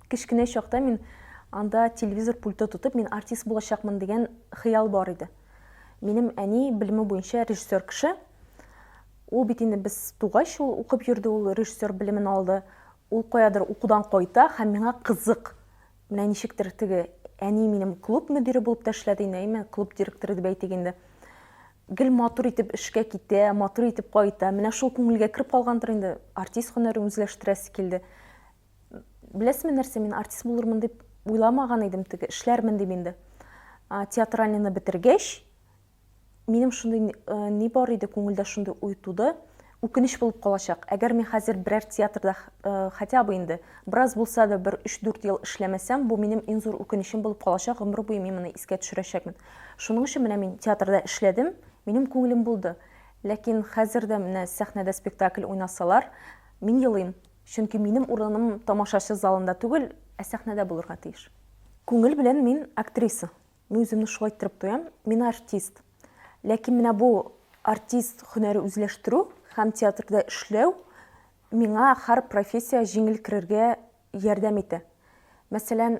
Кечкенә чакта мин анда телевизор пульты тотып, мин артист булачакмын дигән хыял бар иде. Минем әни белеме буенча режиссер кеше. Ул бит инде без тугач ул укып йөрде, ул режиссер белемен алды. Ул каядыр укудан кайта һәм миңа кызык. Менә ничектер теге әни минем клуб мөдире булып та эшләде инде, әйме, клуб директоры дип әйтик инде. гел матур итеп эшкә китә, матур итеп кайта. Менә шул күңелгә кереп калгандыр инде, артист һөнәрен үзләштерәсе килде. Беләсезме нәрсә, мин артист булырмын дип уйламаган идем, теге эшләрмен дип инде. Театральныйны бетергәч, минем шундый э, ни бар иде, күңелдә шундый уй туды. Үкенеч булып калачак, әгәр мин хәзер берәр театрда хотя бы инде бераз булса да бер өч-дүрт ел эшләмәсәм, бу минем иң зур үкенечем булып калачак, гомер буе мин моны искә төшерәчәкмен. Шуның өчен менә мин театрда эшләдем, минем күңелем булды. Ләкин хәзер дә менә сәхнәдә спектакль уйнасалар, мин елыйм, чөнки минем урыным тамашачы залында түгел, ә сәхнәдә булырга тиеш. Күңел белән мин актриса. Мин үземне шулай иттереп тоям. Мин артист. Ләкин менә бу артист һөнәре үзләштерү һәм театрда эшләү миңа һәр профессия җиңел керергә ярдәм итә. Мәсәлән,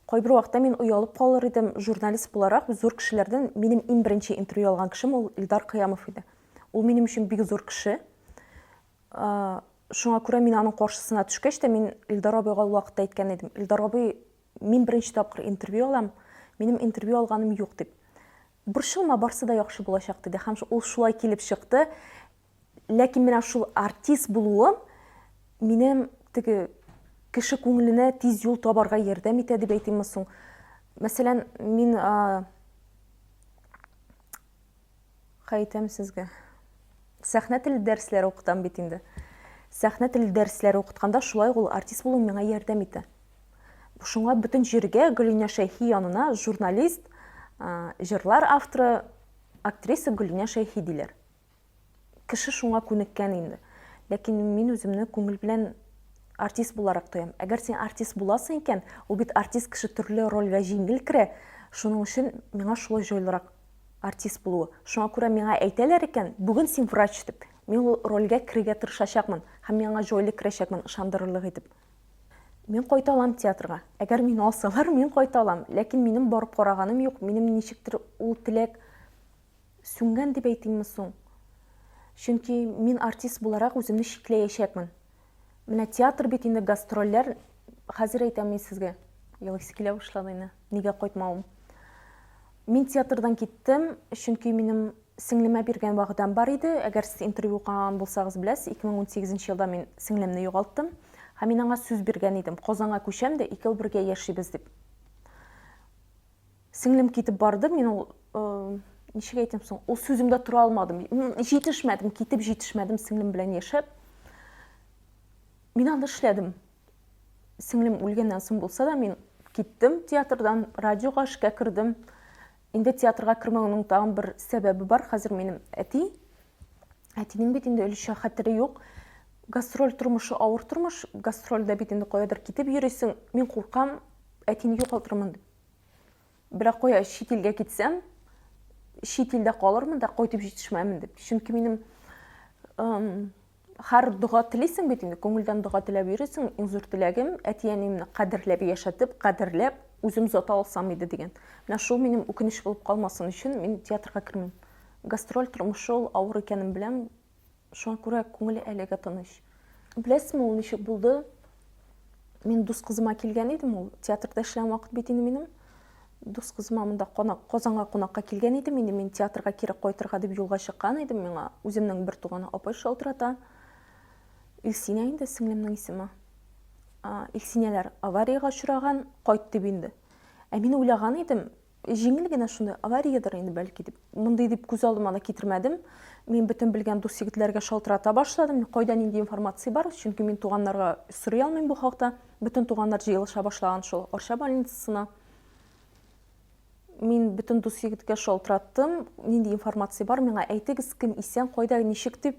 кайбер вакытта мин оялып калыр идем, журналист буларак зур кешеләрдән минем иң беренче интервью алган кешем ул Илдар Кыямов иде. Ул минем өчен бик зур кеше. Шуңа күрә мин аның каршысына төшкәч тә мин Илдар абыйга ул вакытта әйткән идем. Илдар абый Мин беренче тапкыр интервью алам, минем интервью алганым юк дип. Борчылма, барсы да яхшы булачак диде һәм ул шулай килеп чыкты. Ләкин менә шул артист булуым минем теге кеше күңеленә тиз юл табарга ярдәм итә дип әйтимме соң. Мәсәлән, мин Хәйтем сезгә. Сәхнә теле дәресләре укытам бит инде. Сәхнә теле дәресләре укытканда шулай ул артист булу миңа ярдәм итә. Шуңа бөтен җиргә Гөлинә Шәйхи янына журналист, җырлар авторы, актриса Гөлинә Шәйхи диләр. Кеше шуңа күнеккән инде. Ләкин мин үземне күңел белән артист буларак тоям. Әгәр син артист буласың икән, ул бит артист кеше төрле рольгә җиңел керә. Шуның өчен миңа шулай җайлырак. артист булуы. Шуңа күрә миңа әйтәләр икән, бүген син врач дип. Мин ул рольгә керергә тырышачакмын һәм мин аңа җайлы керәчәкмен, ышандырырлык итеп. Мин кайта алам театрга. Әгәр мине алсалар, мин кайта алам. Ләкин минем барып караганым юк, минем ничектер ул теләк сүнгән дип әйтимме соң? Чөнки мин артист буларак үземне чикләячәкмен. Менә театр бит инде гастрольләр, хәзер әйтәм мин сезгә. Елыйсы килә башлады инде. Нигә кайтмавым? Мин театрдан киттем, чөнки минем сеңлемә биргән вәгъдәм бар иде. Әгәр сез интервью укыган булсагыз беләсез, 2018 елда мин сеңлемне югалттым. Һәм мин аңа сүз биргән идем, Казанга күчәм дә, икәү бергә яшибез дип. сеңлем китеп барды мин ул ничек әйтәм соң ул сүземдә тора алмадым җитешмәдем китеп җитешмәдем сеңлем белән яшәп мин аны эшләдем сеңлем үлгәннән соң булса да мин киттем театрдан радиога эшкә кердем инде театрга кермәүнең тагын бер сәбәбе бар хәзер минем әти әтинең бит инде өлешчә хәтере юк гастроль тормышы авыр тормыш гастрольдә бит инде каядыр китеп йөрисең мин куркам әтине югалтырмын дип Берәк куя чит илгә китсәм, чит илдә калырмын да кайтып җитешмәмен дип. Чөнки минем һәр дога телисең бит инде, күңелдән дога теләп йөрисең. Иң зур теләгем әти-әниемне кадерләп яшәтеп, кадерләп үзем зата алсам иде дигән. Менә шул минем үкенеч булып калмасын өчен мин театрга кермим. Гастроль тормышы ул авыр икәнен беләм, Шуңа күрә күңеле әлегә тыныч. Беләсезме, ул ничек булды? Мин дус кызыма килгән идем, ул театрда эшләгән вакыт бит инде минем. Дус кызыма монда конак, Казанга кунакка килгән идем, инде мин театрга кире кайтырга дип юлга чыккан идем, миңа үземнең бер туганы апай шалтырата. Илсинә инде сеңлемнең исеме. Илсинәләр авариягә очраган, кайт дип инде. Ә мин уйлаган идем, Җиңел генә шуны авариядер инде бәлки дип, мондый дип күз алдыма да китермәдем. Мин бөтен белгән дус егетләргә шалтырата башладым. Кайда нинди информация бар? Чөнки мин туганнарга сорый алмыйм бу хакта. Бөтен туганнар җыелыша башлаган шул Арча больницасына. Мин бөтен дус егеткә шалтыраттым. Нинди информация бар? Миңа әйтегез, кем исән, кайда, ничек дип.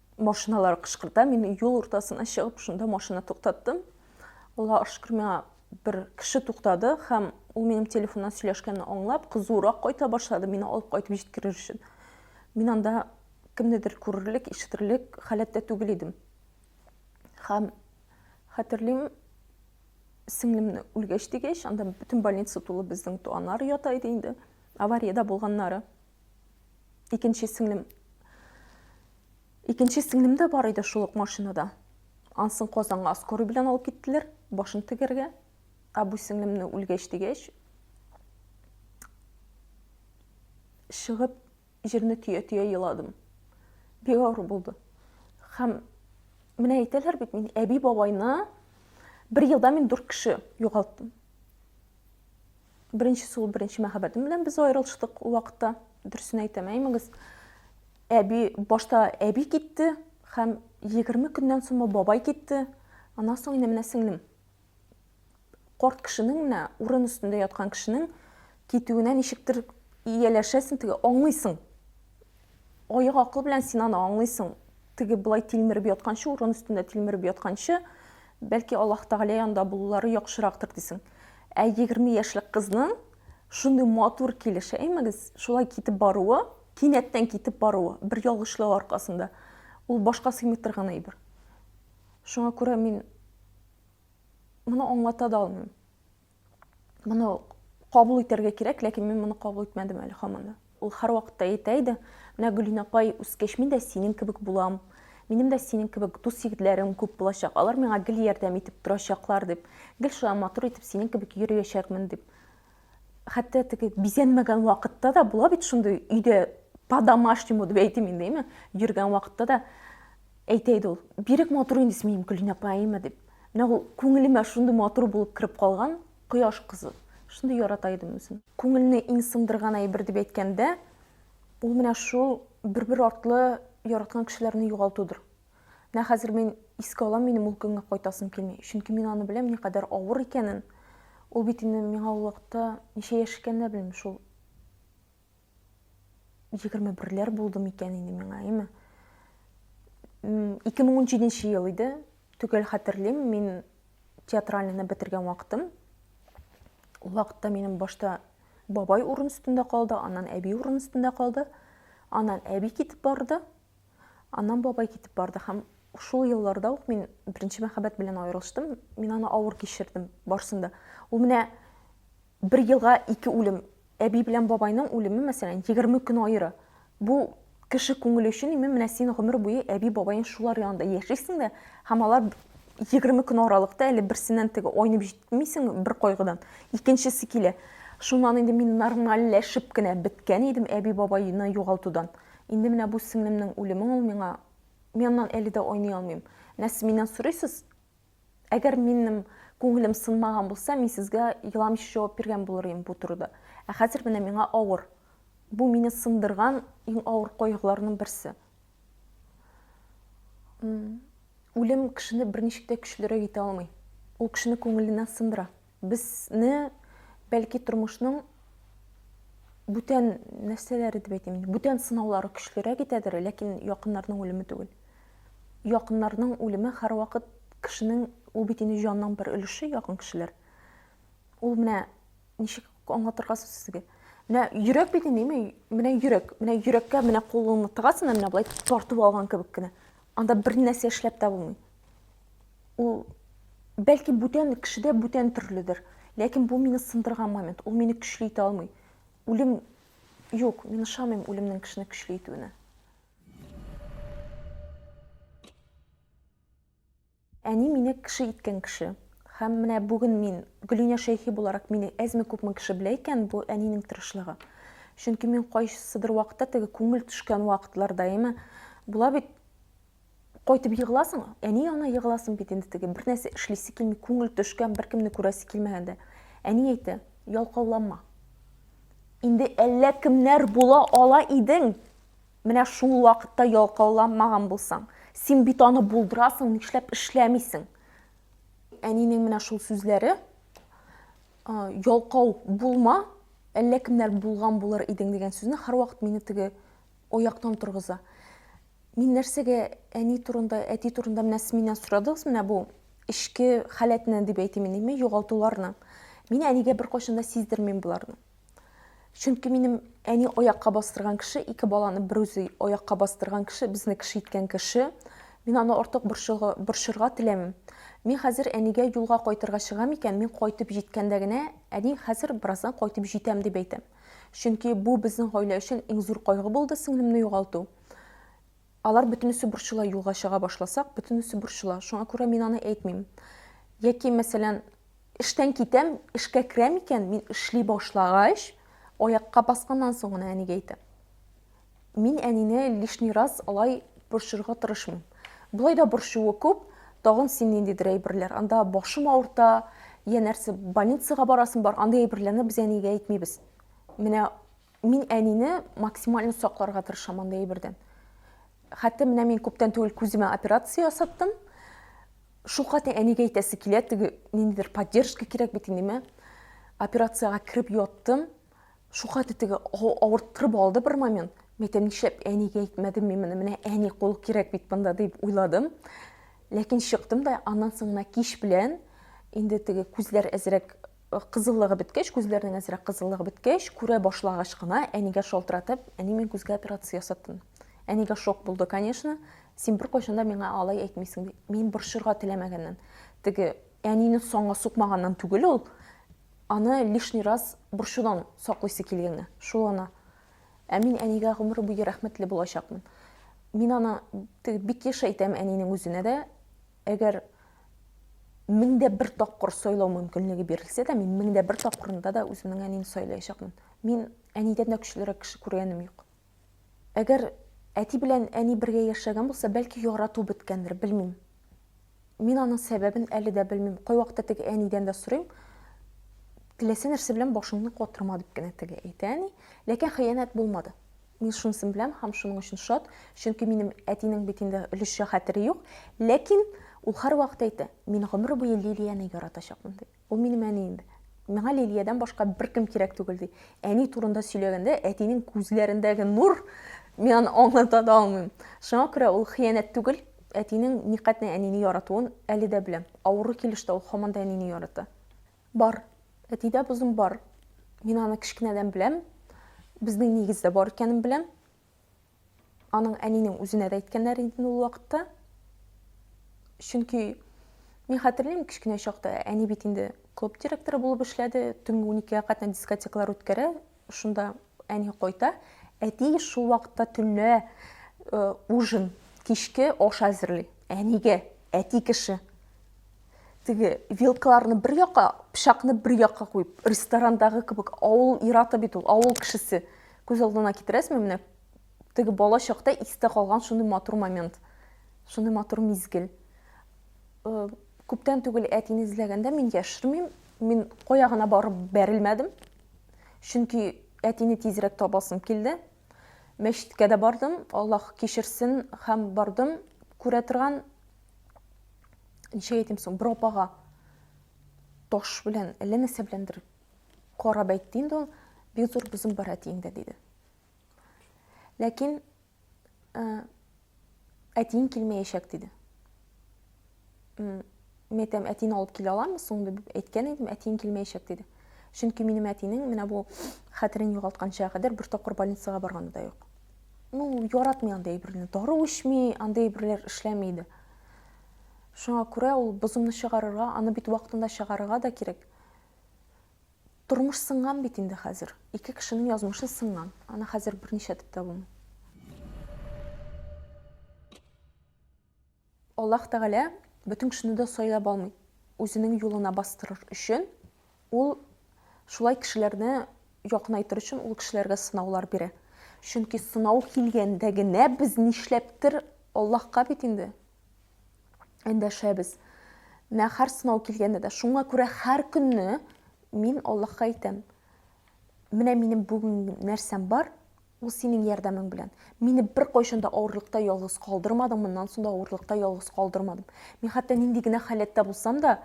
Машиналар кышкырта. Мин юл уртасына чыгып, шунда машина туктаттым. Аллаһ шөкер, миңа бер кеше туктады һәм ул минем телефоннан сөйләшкәнне аңлап, кызурак кайта башлады, мине алып кайтып җиткерер өчен. Мин анда кемнедер күрерлек, ишетерлек халәттә түгел идем. Һәм хәтерлим, сеңлемне үлгәч дигәч, анда бөтен больница тулы безнең туганнар ята иде инде, авариядә булганнары. Икенче сеңлем Икенче сеңлем дә бар иде шул ук машинада. Ансын Казанга скорый белән алып киттеләр, башын тегәргә. Ә бу сеңлемне үлгәч дигәч, чыгып җирне төя-төя еладым. Бик авыр булды. Һәм менә әйтәләр бит мин әби бабайны бер елда мин дүрт кеше югалттым. Беренчесе ул беренче мәхәббәтем белән без аерылыштык ул вакытта. Дөресен әйтәм, әймәгез. Әби башта әби китте һәм 20 көннән соң бабай китте. Аннан соң инде менә сеңлем. Корт кешенең менә урын өстендә яткан кешенең китүенә ничектер ияләшәсең, теге аңлыйсың. Аек акыл белән син аны аңлыйсың. Теге болай тилмереп ятканчы, урын өстендә тилмереп ятканчы, бәлки Аллаһ Тәгалә янында булулары яхшырактыр дисең. Ә егерме яшьлек кызның шундый матур килеш, әймәгез, шулай китеп баруы, кинәттән китеп баруы, бер ялгышлык аркасында, ул башка сыймый торган әйбер. Шуңа күрә мин моны аңлата да алмыйм. моны кабул итәргә кирәк ләкин мин моны кабул итмәдем әле һаман да ул һәрвакытта әйтә иде менә гөлина апай үскәч мин дә синең кебек булам минем дә синең кебек дус егетләрем күп булачак алар миңа гел ярдәм итеп торачаклар дип гел шулай матур итеп синең кебек йөриячәкмен дип хәтта теге бизәнмәгән вакытта да була бит шундый өйдә по домашнему дип әйтим инде йөргән вакытта да Әйтә иде ул, Бирек матур инде син минем Көлинә апаема дип. Менә ул күңелемә шундый матур булып кереп калган, кояш кызы. Шундый ярата идем үзен. Күңелне иң сындырган әйбер дип әйткәндә, ул менә шул бер-бер артлы яраткан кешеләрне югалтудыр. Менә хәзер мин искә алам, минем ул көнгә кайтасым килми. Чөнки мин аны беләм, никадәр авыр икәнен. Ул бит инде миңа ул вакытта ничә яшь икәнен дә белмим, шул егерме берләр булды микән инде миңа әйме ике мең унжиденче ел иде төгәл хәтерлим мин театральныйны бетергән вакытым ул вакытта минем башта бабай урын өстендә калды аннан әби урын өстендә калды аннан әби китеп барды Анам бабай китеп барды һәм шул елларда ук мин беренче мәхәббәт белән аерылыштым. Мин аны авыр кичердем барсын да. Ул менә бер елга ике үлем. Әби белән бабайның үлеме, мәсәлән, 20 көн аеры. Бу кеше күңеле өчен имин менә син гомер буе әби бабаең шулар янында яшисең дә һәм алар егерме көн аралыкта әле берсеннән теге айнып җитмисең бер кайгыдан икенчесе килә шуннан инде мин нормальләшеп кенә беткән идем әби бабайны югалтудан Инде менә бу сеңлемнең үлеме ул миңа. Мин аннан әле дә айный алмыйм. Менә сез миннән сорыйсыз, әгәр минем күңелем сынмаган булса, мин сезгә еламыйча җавап биргән булыр идем бу турыда. Ә хәзер менә миңа авыр. Бу мине сындырган иң авыр кайгыларның берсе. Үлем кешене берничек тә көчлерәк итә алмый. Ул кешене күңеленнән сындыра. Безне, бәлки, тормышның бүтән нәрсәләре дип әйтим, бүтән сынаулары көчлерәк итәдер, ләкин якыннарның үлеме түгел. Якыннарның үлеме һәрвакыт кешенең ул бит инде җанның бер өлеше якын кешеләр. Ул менә ничек аңлатырга сезгә? Менә йөрәк бит инде, менә йөрәк, менә йөрәккә менә кулыңны тыгасың, менә болай тартып алган кебек кенә. Анда бер нәрсә эшләп тә булмый. ул бәлки бүтән кешедә бүтән төрледер ләкин бу мине сындырган момент ул мине көчле итә алмый үлем юк мин ышанмыйм үлемнең кешене көчле итүенә әни мине кеше иткән кеше һәм менә бүген мин гөлинә шәйхи буларак мине әзме күпме кеше белә икән бу әнинең тырышлыгы чөнки мин кайсыдыр вакытта теге күңел төшкән вакытлар даими була бит Кайтып егыласың, әни янына егыласың бит инде теге, бернәрсә эшлисе килми, күңел төшкән, беркемне күрәсе килмәгәндә. Әни әйтә, ялкауланма. Инде әллә кемнәр була ала идең. Менә шул вакытта ялкауланмаган булсаң, син бит аны булдырасың, нишләп эшләмисең? Әнинең менә шул сүзләре, ялкау булма, әллә кемнәр булган булыр идең дигән сүзне һәрвакыт мине теге аяктан торгыза. Мин нәрсәгә әни турында, әти турында менә сез миннән сорадыгыз менә бу эчке халәтне дип әйтим инде, югалтуларны. Мин әнигә беркайчан да сиздермим боларны. Чөнки минем әни аякка бастырган кеше, ике баланы бер үзе аякка бастырган кеше, безне кеше иткән кеше. Мин аны артык борчырга теләмим. Мин хәзер әнигә юлга кайтырга чыгам икән, мин кайтып җиткәндә генә, әни, хәзер бераздан кайтып җитәм дип әйтәм. Чөнки бу безнең гаилә өчен иң зур кайгы булды сеңлемне югалту. Алар бөтенесе борчыла, юлга чыга башласак, бөтенесе борчыла. Шуңа күрә мин аны әйтмим. Яки, мәсәлән, эштән китәм, эшкә керәм икән, мин эшли башлагач, аякка басканнан соң гына әнигә әйтәм. Мин әнине лишний раз алай борчырга тырышмыйм. Болай да борчуы күп, тагын син ниндидер әйберләр. Анда башым авырта, я нәрсә, больницага барасың бар, андый әйберләрне без әнигә әйтмибез. Менә Мин әнине максимально сакларга тырышам андый әйбердән. Хәтта менә мин күптән түгел күземә операция ясаттым. Шулкаты әнигә әйтәсе килә, теге ниндидер поддержка кирәк бит инде Операциягә кереп яттым. Шулкаты теге авырттырып алды бер момент. Мәйтәм, нишләп әнигә әйтмәдем мин моны? Менә әни кул кирәк бит монда дип уйладым. Ләкин чыктым да, аннан соң менә кич белән инде теге күзләр әзрәк Кызыллыгы беткәч, күзләренең әзрәк кызыллыгы беткәч, күрә башлагач кына, әнигә шалтыратып, әни, мин күзгә операция ясаттым. Әнигә шок булды, конечно. Син беркайчан да миңа алай әйтмисең, ди. Мин борчырга теләмәгәннән. Теге әнине санга сукмаганнан түгел ул, аны лишний раз борчудан саклыйсы килгәнгә, шул гына. Ә мин әнигә гомер буе рәхмәтле булачакмын. Мин аны теге бик еш әйтәм әнинең үзенә дә, Әгәр мең дә бер тапкыр сайлау мөмкинлеге бирелсә дә, мин мең дә бер тапкырында да үземнең әнине сайлаячакмын. Мин әнидән дә көчлерәк кеше күргәнем юк. Әгәр әти белән әни бергә яшәгән булса, бәлки ярату беткәндер, белмим. Мин аның сәбәбен әле дә белмим. Кайвакытта теге әнидән дә сорыйм, теләсә нәрсә белән башыңны катырма дип кенә теге әйтә әни, ләкин хыянәт булмады. Мин шунысын беләм һәм шуның өчен шат, чөнки минем әтинең бит инде өлешчә хәтере юк, ләкин ул һәрвакыт әйтә, мин гомер буе Лилияне яратачакмын, ди. Ул минем әни инде. Миңа Лилиядән башка беркем кирәк түгел, ди. Әни турында сөйләгәндә, әтинең күзләрендәге нур, мин аны аңлата да алмыйм. Шуңа күрә ул хыянәт түгел, әтинең никадәр әнине яратуын әле дә беләм. Авыру килеш тә ул һаман да әнине ярата. Бар. Әтидә бозым бар. Мин аны кечкенәдән беләм. Безнең нигездә бар икәнен беләм. Аның әнинең үзенә дә әйткәннәр иде ул вакытта. Чөнки мин хәтерлим кечкенә чакта, әни бит инде клуб директоры булып эшләде, төнге уникегә кадәр дискотекалар үткәрә, Шунда әни кайта, әти шул вакытта төнлә ужин, кичке аш әзерли. Әнигә, әти кеше. Теге вилкаларны бер якка, пычакны бер якка куеп, ресторандагы кебек авыл ираты бит ул, авыл кешесе. Күз алдына китерәсезме менә? Теге бала чакта истә калган шундый матур момент. Шундый матур мизгел. Күптән түгел әтине эзләгәндә мин яшермим, мин кая гына барып бәрелмәдем. Чөнки әтине тизрәк табасым килде. Мәчеткә дә бардым, Аллаһ кичерсен, һәм бардым күрә торган ничек әйтим соң, бер апага таш белән, әллә нәрсә беләндер карап әйтте инде ул, бик зур бозым бар әтиеңдә, диде. Ләкин Ә, әтиең килмәячәк, диде. Мин әйтәм, әтине алып килә аламы соң, дип әйткән идем, әтиең килмәячәк, диде. Чөнки минем әтинең менә бу хәтерен югалтканча кадәр бер тапкыр больницага барганы да юк. Ну, яратмый андый әйберне. Дару эчми, андый әйберләр эшләми иде. Шуңа күрә ул бозымны чыгарырга, аны бит вакытында чыгарырга да кирәк. Тормыш сынган бит инде хәзер. Ике кешенең язмышы сынган. Аны хәзер берничә дип тә булмый. Аллаһ Тәгалә бөтен кешене дә сайлап алмый. Үзенең юлына бастырыр өчен ул шулай кешеләрне якынайтыр өчен ул кешеләргә сынаулар бирә. Чөнки сынау килгәндә генә без нишләптер Аллаһка бит инде Эндәшәбез. Менә һәр сынау килгәндә дә. Шуңа күрә һәр көнне мин Аллаһка әйтәм, менә минем бүген нәрсәм бар, ул синең ярдәмең белән. Мине бер кайчан да авырлыкта ялгыз калдырмадың, моннан соң да авырлыкта ялгыз калдырмадың. Мин хәтта нинди генә халәттә булсам да,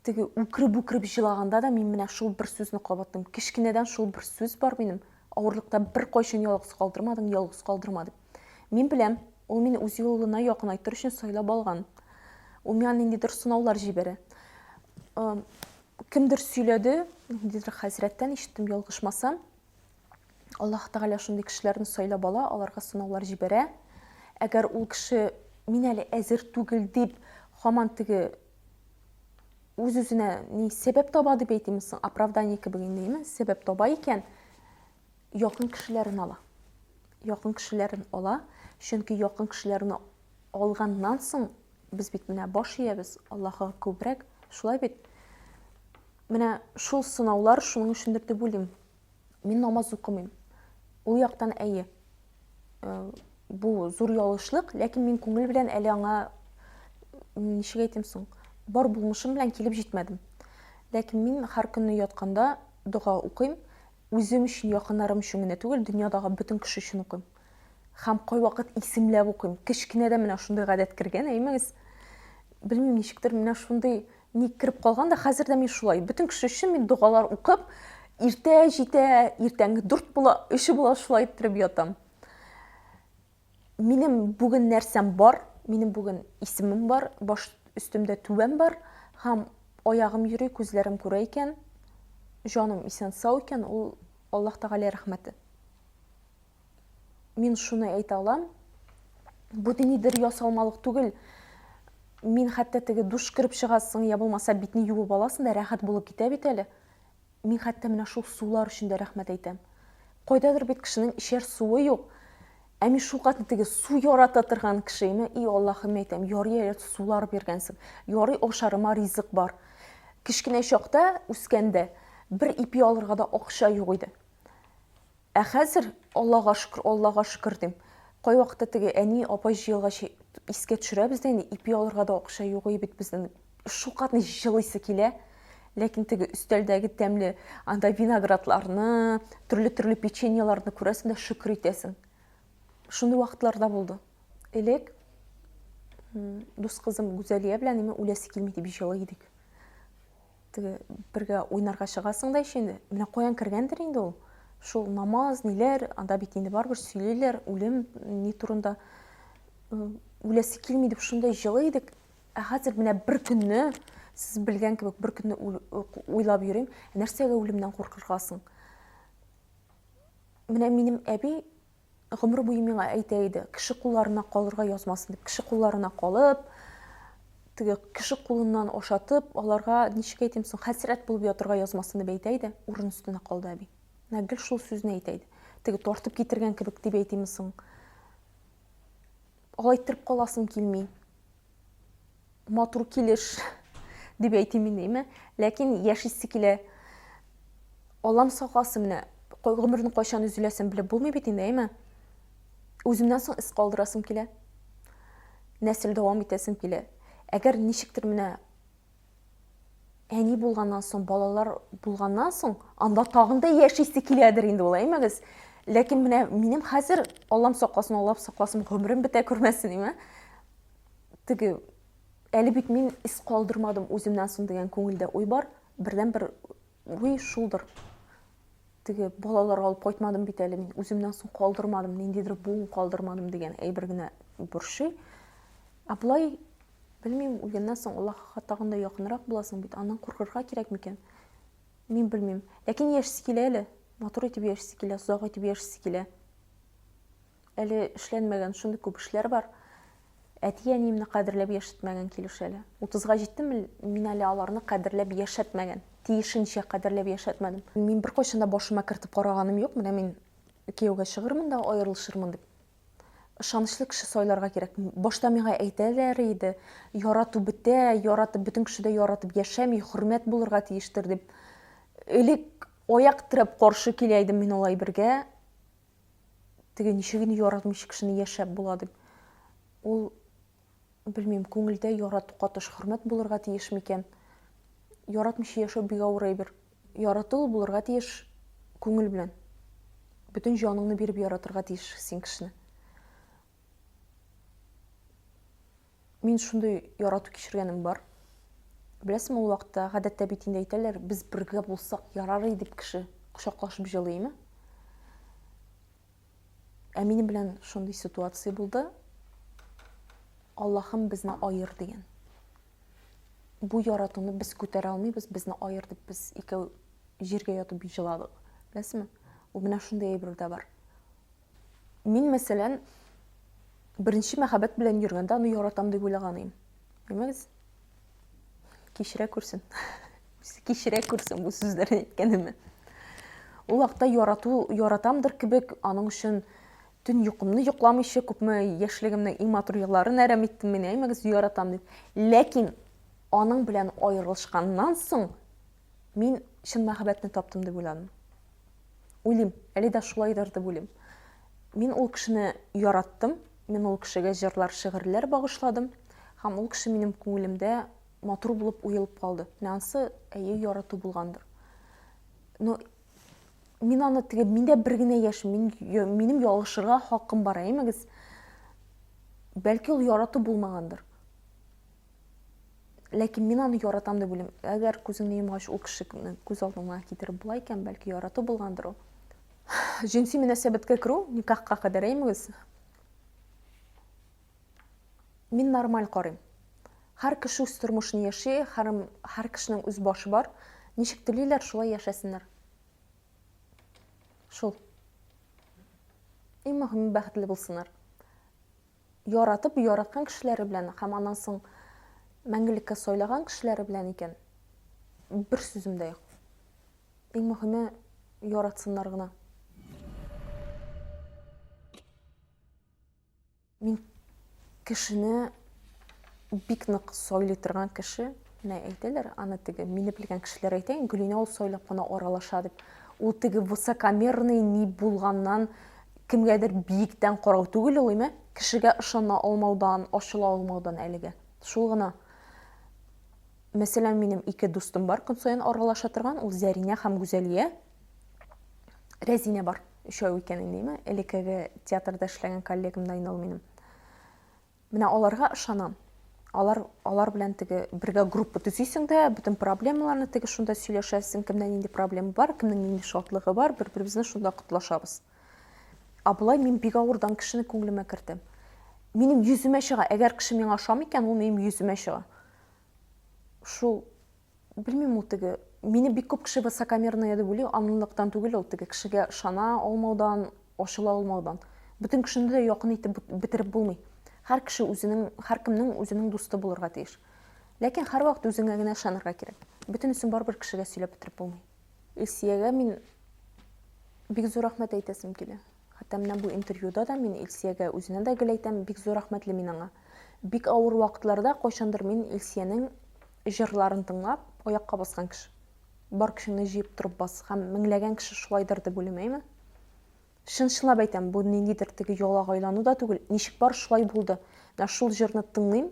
Теге үкереп-үкереп җылаганда да мин менә шул бер сүзне кабаттым. Кечкенәдән шул бер сүз бар минем. Авырлыкта беркайчан ялгыз калдырмадың, ялгыз калдырма дип. Мин беләм, ул мине үз юлына якынайтыр өчен сайлап алган. Ул миңа ниндидер сынаулар җибәрә. Кемдер сөйләде, ниндидер хәзрәттән ишеттем, ялгышмасам, Аллаһ Тәгалә шундый кешеләрне сайлап ала, аларга сынаулар җибәрә. Әгәр ул кеше мин әле әзер түгел дип, хаман теге үз-үзенә ни сәбәп таба дип әйтимме соң, оправдание кебек инде, сәбәп таба икән, якын кешеләрен ала. Якын кешеләрен ала, чөнки якын кешеләрне алганнан соң без бит менә баш иябез Аллаһка күбрәк, шулай бит. Менә шул сынаулар шуның өчендер дип уйлыйм. Мин намаз укымыйм. Ул яктан әйе. Э, бу зур ялышлык, ләкин мин күңел белән әле аңа ничек әйтим соң, бар булмышым белән килеп җитмәдем. Ләкин мин һәр көнне ятканда дога укыйм. Үзем өчен, якыннарым өчен генә түгел, дөньядагы бөтен кеше өчен укыйм. Һәм кайвакыт исемләп укыйм. Кечкенәдә менә шундый гадәт кергән, әймәгез. Белмим, ничектер менә шундый Ник кереп калган да хәзер дә мин шулай. Бөтен кеше өчен мин догалар укып, иртә җитә, иртәнге дүрт була, өч була шулай иттереп ятам. Минем бүген нәрсәм бар, минем бүген исемем бар, баш өстемдә түбәм бар һәм аягым йөри, күзләрем күрә икән, җаным исән-сау икән, ул Аллаһ Тәгалә рәхмәте. Мин шуны әйтә алам, бу динидер ясалмалык түгел. Мин хәтта теге душ кереп чыгасың, я булмаса битне юып аласың да рәхәт булып китә бит әле. Мин хәтта менә шул сулар өчен дә рәхмәт әйтәм. Кайдадыр бит кешенең ишәр суы юк. Ә мин шул катны теге су ярата торган кеше име? И Аллаһым әйтәм, ярый әле сулар биргәнсең. Ярый ашарыма ризык бар. Кечкенә чакта үскәндә бер ипи алырга да акча юк иде. Ә хәзер, Аллага шөкер, Аллага шөкер, дим. Кайвакытта теге әни, апай җыелгач искә төшерәбез дә инде, ипи алырга да акча юк и бит безнең. Шулкадәр җылыйсы килә. Ләкин теге өстәлдәге тәмле анда виноградларны, төрле-төрле печеньеларны күрәсең дә шөкер итәсең. Шундый вакытлар да булды. Элек дус кызым Гүзәлия белән имә үләсе килми дип җылый идек. Теге бергә уйнарга чыгасың да еще инде. Менә каян кергәндер инде ул. Шул намаз, ниләр, анда бит инде барыбер сөйлиләр, үлем ни турында. Э, үләсе килми дип шундай җылы идек. Ә хәзер менә бер көнне, сез белгән кебек, бер көнне уйлап йөрим, нәрсәгә үлемнән куркыргасың? Менә минем әби Гомер буе миңа әйтә иде, кеше кулларына калырга язмасын дип, кеше кулларына калып, теге кеше кулыннан ашатып, аларга ничек әйтим соң, хәсрәт булып ятырга язмасын дип әйтә иде, урын өстенә калды әби. Менә гел шул сүзне әйтә иде. Теге тартып китергән кебек дип әйтимме соң? Алай иттереп каласым килми. матур килеш дип әйтим инде, ләкин яшисе килә. Аллам сакласын менә, гомернең кайчан өзеләсен белеп булмый бит инде, әйме? Үземнән соң эз калдырасым килә. Нәсел дәвам итәсем килә. Әгәр ничектер менә Әни булганнан соң, балалар булганнан соң, анда тагын да яшисе киләдер инде ул, әймәгез. Ләкин менә минем хәзер, Аллам сакласын, Аллам сакласын, гомерем бетә күрмәсен, әйме. Теге, әле бит мин ис калдырмадым үземнән соң дигән күңелдә уй бар. Бердән бер уй шулдыр. Теге балалар алып кайтмадым бит әле мин, үземнән соң калдырмадым, ниндидер буын калдырмадым дигән әйбер генә борчый. Ә Белмим, үлгәннән соң Аллаһыга тагын да якынрак буласың бит, аннан куркырга кирәк микән? Мин белмим. Ләкин яшисе килә әле. Матур итеп яшисе килә, озак итеп яшисе килә. Әле эшләнмәгән шундый күп эшләр бар. Әти-әниемне кадерләп яшәтмәгән килеш әле. 30-га җиттем, мин әле аларны кадерләп яшәтмәгән. Тиешенчә кадерләп яшәтмәдем. Мин беркайчан да башыма кертеп караганым юк, менә мин кияүгә чыгырмын да аерылышырмын дип. ышанычлы кеше сайларга кирәк. Башта миңа әйтәләр иде, ярату бетә, яратып бөтен кеше дә яратып яшәми, хөрмәт булырга тиештер дип. Элек аяк терәп каршы килә идем мин алай бергә. Теге ничек инде яратмыйча кешене яшәп була дип. Ул Белмим, күңелдә ярату катыш хөрмәт булырга тиеш микән? Яратмыйча яшәү бик авыр әйбер. Ярату булырга тиеш күңел белән. Бөтен җаныңны биреп яратырга тиеш син кешене. Мин шундый ярату кичергәнем бар. Беләсең, ул вакытта гадәттә бит инде әйтәләр, без бергә булсак ярар иде дип кеше кочаклашып җылыймы? Ә минем белән шундый ситуация булды. Аллахым безне аер дигән. Бу яратуны без күтәрә алмыйбыз, безне аер дип без икәү җиргә ятып җыладык. Беләсезме? Ул менә шундый әйбер дә бар. Мин, мәсәлән, беренче мәхәббәт белән йөргәндә аны яратам дип уйлаган идем. Белмәгез? Кичерә күрсен. Үзе кичерә күрсен бу сүзләрне әйткәнемне. Ул вакытта ярату, яратамдыр кебек, аның өчен төн йокымны йокламыйча күпме яшьлегемнең иң матур елларын әрәм иттем мин, әймәгез, яратам дип. Ләкин аның белән аерылышканнан соң Мин чын мәхәббәтне таптым дип уйланым. Уйлыйм, әле дә шулайдыр дип уйлыйм. Мин ул кешене яраттым, мин ул кешегә җырлар, шигырьләр багышладым һәм ул кеше минем күңелемдә матур булып уелып калды. Менә ансы әйе ярату булгандыр. Но мин аны теге миндә бер генә яшь, мин минем ялгышырга хакым бар, әймәгез. Бәлки ул ярату булмагандыр. Ләкин мин аны яратам дип уйлыйм. Әгәр күзеңне йомгач ул кешене күз алдыңа китереп була икән, бәлки ярату булгандыр ул. Җенси мөнәсәбәткә керү, никахка кадәр әймегез. Мин нормаль карыйм. Һәр кеше үз тормышын яши, һәр, һәр кешенең үз башы бар. Ничек телиләр, шулай яшәсеннәр. Шул. Иң мөһиме бәхетле булсыннар. яратып, яраткан кешеләре белән һәм аннан соң мәңгелеккә сайлаган кешеләре белән икән, бер сүзем дә юк. Иң мөһиме яратсыннар гына. Мин кешене бик нык сайлый торган кеше. Менә әйтәләр, аны теге, мине белгән кешеләр әйтә, Гөлинә ул сайлап кына аралаша дип. Ул теге высокомерный ни булганнан, кемгәдер биектән карау түгел ул, име? Кешегә ышана алмаудан, ачыла алмаудан әлегә. Шул гына. Мәсәлән, минем ике дустым бар, көн саен аралаша торган, ул Зәринә һәм Гүзәлия. Рәзинә бар, өчәү икән инде, име? Элеккеге театрда эшләгән коллегамнан ул минем. Менә аларга ышанам. Алар, алар белән теге бергә группа төзисең дә, бөтен проблемаларны теге шунда сөйләшәсең, кемдә нинди проблема бар, кемнең нинди шатлыгы бар, бер-беребезне шунда котлашабыз. Ә болай мин бик авырдан кешене күңелемә кертәм. Минем йөземә чыга, әгәр кеше миңа ошамый икән, ул минем йөземә чыга. Шул Белмим ул теге, мине бик күп кеше высокомерная дип уйлый, анлыктан түгел ул теге кешегә ышана алмаудан, ачыла алмаудан. Бөтен кешене дә якын итеп бетереп булмый. Һәр кеше үзенең, һәркемнең үзенең дусты булырга тиеш. Ләкин һәрвакыт үзеңә генә ышанырга кирәк. Бөтенесен барыбер кешегә сөйләп бетереп булмый. Илсиягә мин бик зур рәхмәт әйтәсем килә. Хәтта менә бу интервьюда да мин Илсиягә, үзенә дә гел әйтәм, бик зур рәхмәтле мин аңа. Бик авыр вакытларда кайчандыр мин Илсиянең җырларын тыңлап, аякка баскан кеше. Бар көчеңне җыеп торып бас, һәм меңләгән кеше шулайдыр дип уйлыймыймы? Чын-чынлап әйтәм, бу ниндидер теге ялага айлану да түгел, ничек бар шулай булды. Менә шул җырны тыңлыйм,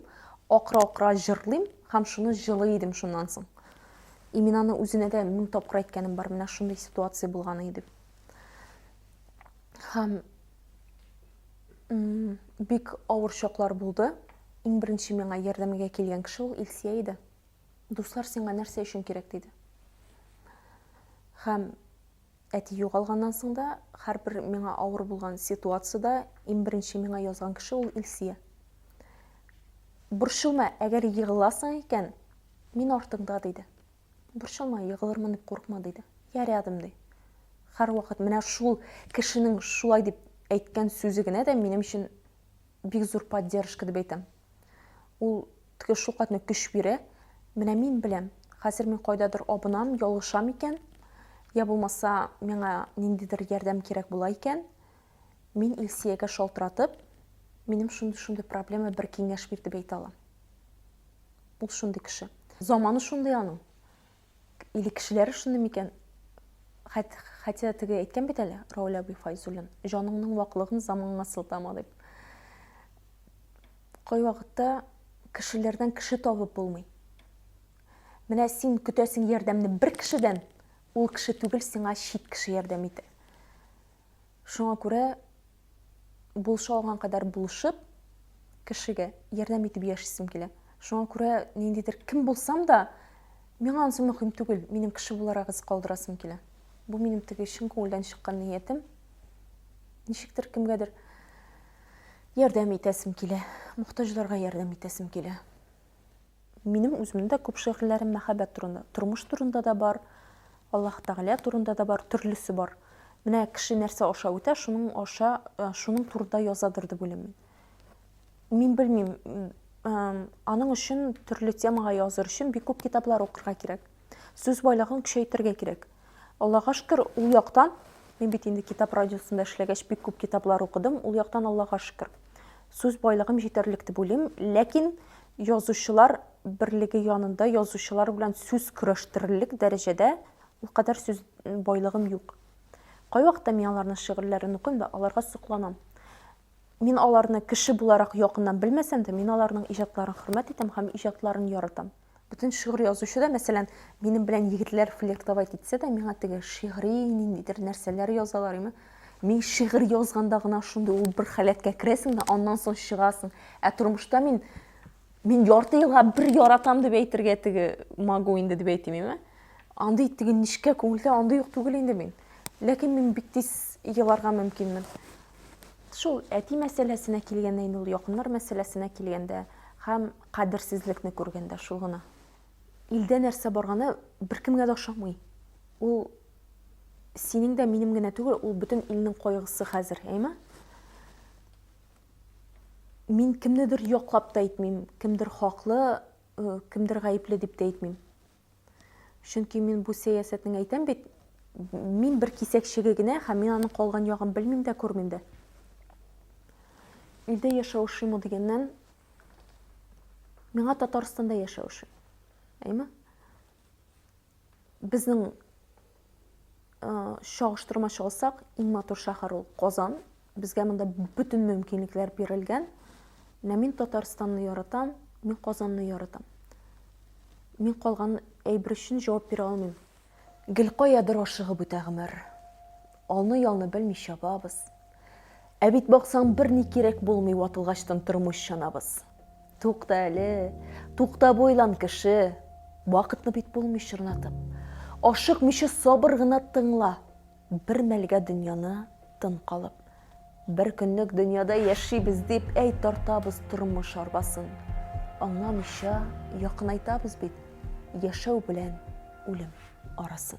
акыра-акыра җырлыйм һәм шуны җылый идем шуннан соң. И мин аны үзенә дә мең тапкыр әйткәнем бар, менә шундый ситуация булган иде дип. Һәм бик авыр чаклар булды. Иң беренче миңа ярдәмгә килгән кеше ул Илсия иде. Дуслар сиңа нәрсә өчен кирәк диде. Һәм әти югалганнан соң да һәрбер миңа авыр булган ситуацияда иң беренче миңа язган кеше ул Илсия. Борчылма, әгәр егыласың икән, мин артыңда диде. Борчылма, егылырмын дип курыкма, диде. Я рядом, ди. Һәрвакыт менә шул кешенең шулай дип әйткән сүзе генә дә минем өчен бик зур поддержка дип әйтәм. Ул теге шулкадәр көч бирә. Менә мин беләм, хәзер мин кайдадыр абынам, ялгышам икән, я булмаса миңа ниндидер ярдәм кирәк була икән, мин Илсиягә шалтыратып, минем шундый-шундый проблема, бер киңәш бир дип әйтә алам. Ул шундый кеше. Заманы шундый аның. Или кешеләре шундый микән? Хәт, хәтя теге әйткән бит әле, Рауль Аби Файзуллин, җаныңның ваклыгын заманга сылтама дип. Кай вакытта кешеләрдән кеше табып булмый. Менә син көтәсең ярдәмне бер кешедән, ул кеше түгел, сиңа чит кеше ярдәм итә. Шуңа күрә булыша алган кадәр булышып, кешегә ярдәм итеп яшисем килә. Шуңа күрә ниндидер кем булсам да, миңа ансы мөһим түгел, минем кеше буларак эз калдырасым килә. Бу минем теге чын күңелдән чыккан ниятем. Ничектер кемгәдер ярдәм итәсем килә, мохтаҗларга ярдәм итәсем килә. Минем үземнең дә күп шигырьләрем мәхәббәт турында, тормыш турында да бар, Аллаһ Тәгалә турында да бар, төрлесе бар. Менә кеше нәрсә аша үтә, шуның аша, э, шуның турында язадыр дип уйлыйм. Мин белмим, аның өчен төрле темага языр өчен бик күп китаплар укырга кирәк. Сүз байлыгын көчәйтергә кирәк. Аллага шөкер, ул яктан мин бит инде китап радиосында эшләгәч бик күп китаплар укыдым. Ул яктан Аллага шөкер. Сүз байлыгым җитәрлек дип уйлыйм, ләкин язучылар берлеге янында язучылар белән сүз көрәштерерлек дәрәҗәдә ул кадәр сүз байлыгым юк. Кайвакытта мин аларның шигырьләрен укыйм да, аларга сокланам. Мин аларны кеше буларак якыннан белмәсәм дә, мин аларның иҗатларын хөрмәт итәм һәм иҗатларын яратам. Бөтен шигырь язучы да, мәсәлән, минем белән егетләр флиртовать итсә дә, миңа теге шигъри ниндидер нәрсәләр язалар име. Мин шигырь язганда гына шундый ул бер халәткә керәсең дә, аннан соң чыгасың. Ә тормышта мин мин ярты елга бер яратам дип әйтергә теге могу инде дип әйтим име. Андый теге нечкә күңелдә андый юк түгел инде мин. Ләкин мин бик тиз еларга мөмкинмен. Шул әти мәсьәләсенә килгәндә инде ул якыннар мәсьәләсенә килгәндә һәм Кадерсезлекне күргәндә шул гына. Илдә нәрсә барганы беркемгә дә ошамый. Ул синең дә, минем генә түгел, ул бөтен илнең кайгысы хәзер, әйме? Мин кемнедер яклап та әйтмим, кемдер хаклы, кемдер гаепле дип тә әйтмим. Чөнки мин бу сәясәтнең әйтәм бит, мин бер кисәкчеге генә һәм мин аның калган ягын белмим дә, күрмим дә. Илдә яшәү ошыймы дигәннән, миңа Татарстанда яшәү ошый. Әйме? Безнең чагыштырма чыгылсак, иң матур шәһәр ул Казан. Безгә монда бөтен мөмкинлекләр бирелгән. Менә мин Татарстанны яратам, мин Казанны яратам. Мин калган әйбер өчен җавап бирә алмыйм. Гел каядыр ашыгып үтә гомер. Алны-ялны белми чабабыз. Ә бит баксаң берни кирәк булмый ватылгачтын тормыш чанабыз. Тукта әле, тукта бу илан кеше, вакытны бит булмый чорнатып. Ашыкмыйча сабыр гына тыңла, бер мәлгә дөньяны тын калып. Бер көнлек дөньяда яшибез дип әй тартабыз тормыш арбасын. Аңламыйча якынайтабыз бит яшәү белән үлем арасын.